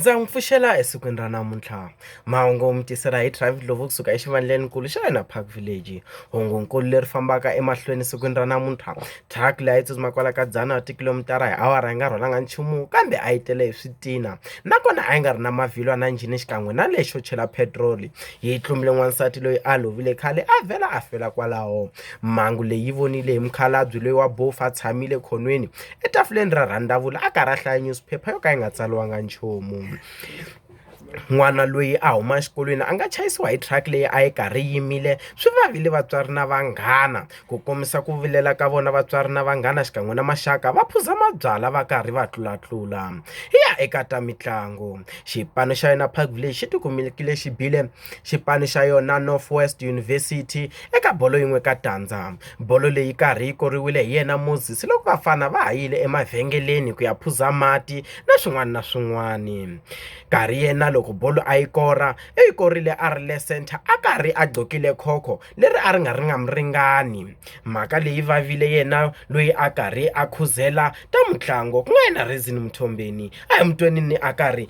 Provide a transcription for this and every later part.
ndza n'wi pfuxela esikwini ra namuntlha mahungu mi tisela hi travel lovo kusuka exivandlenikulu xa hina park village hungunkulu leri fambaka emahlweni esikwini ra namuntlha truck leyi a yi tsutsuma kwala ka dzana wa tikhilomitara hi awara yi nga rhwalanga nchumu kambe a yi tele hi switina nakona a yi nga ri na mavhilwa na njhini xikan'we na lexo chela petiroli yi tlumbile n'wansati loyi a lovile khale a vhela a fela kwalaho mhangu leyi vonile hi mukhalabye loyi wa bofu a tshamile khonweni etafuleni ra rhandavula a karhi a hlaya nyusuphepha yo ka yi nga tsaliwanga nchumu n'wana loyi a huma exikolweni a nga chayisiwa hi truck leyi a yi karhi yi yimile swi vavile vatswari na vanghana ku kombisa ku vilela ka vona vatswari na vanghana xikan'we na maxaka va phuza mabyalwa va karhi va tlulatlula hi ya eka ta mitlangu xipano xa yona Park Village xi tikumekile xi bile Xipani xa yona North-West University eka bolo yin'we ka tandza. Bolo leyi karhi yi koriwile hi yena Moses loko vafana va ha yile emavhengeleni ku ya phuza mati na swin'wana na swin'wana. Karhi yena loko bolo a yi kora u yi korile a ri le centre a karhi a gqokile khokho leri a ri nga ri nga mu ringani. Mhaka leyi vavile yena loyi a karhi a khuzela ta mutlangi ku nga yena Reason Mthombeni a hi mu tweni ni a karhi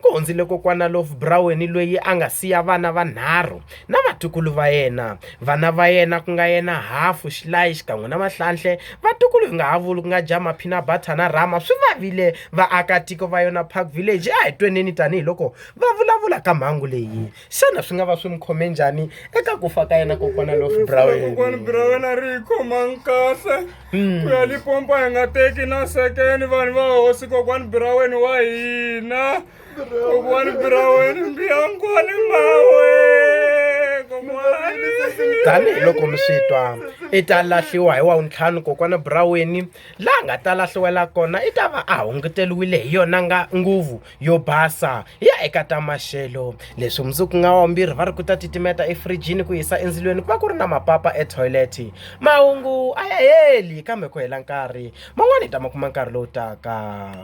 Ku hundzile Kokwana Lofbrouwen loyi a nga siya vana vanharhu na vatukulu va yena. Vana va yena ku nga yena Hafu, Xilayi xikan'we na Mahlanhle, vatukulu hi nga ha vuli ku nga Jama, Phinabhatha na Rama swi va vile vaakatiko va yona Park Village. A hi tweneni tani hi loko va vulavula ka mhangu leyi. Xana swi nga va swi mi khome njhani eka ku fa ka yena Kokwana Lofbrouwen? ku ya lipompa hi nga teki na sekeni vanhu va hosi kokwani biraweni wa hina kokwani biraweni mbiyankwane mawe tanihi loko mi swi twa i ta lahliwa hi wa wuntlhanu kokwana buraweni laha nga ta lahliwela kona i ta va a hunguteliwile hi yona nga nguvu yo basa hi ya eka ta maxelo leswi mundzuku nga wambirhi va ri ku ta titimeta efrijini ku yisa endzilweni ku va ku ri na mapapa etoilet mahungu a ya heli kambe ku hela nkarhi man'wani hi ta ma kuma nkarhi lowu taka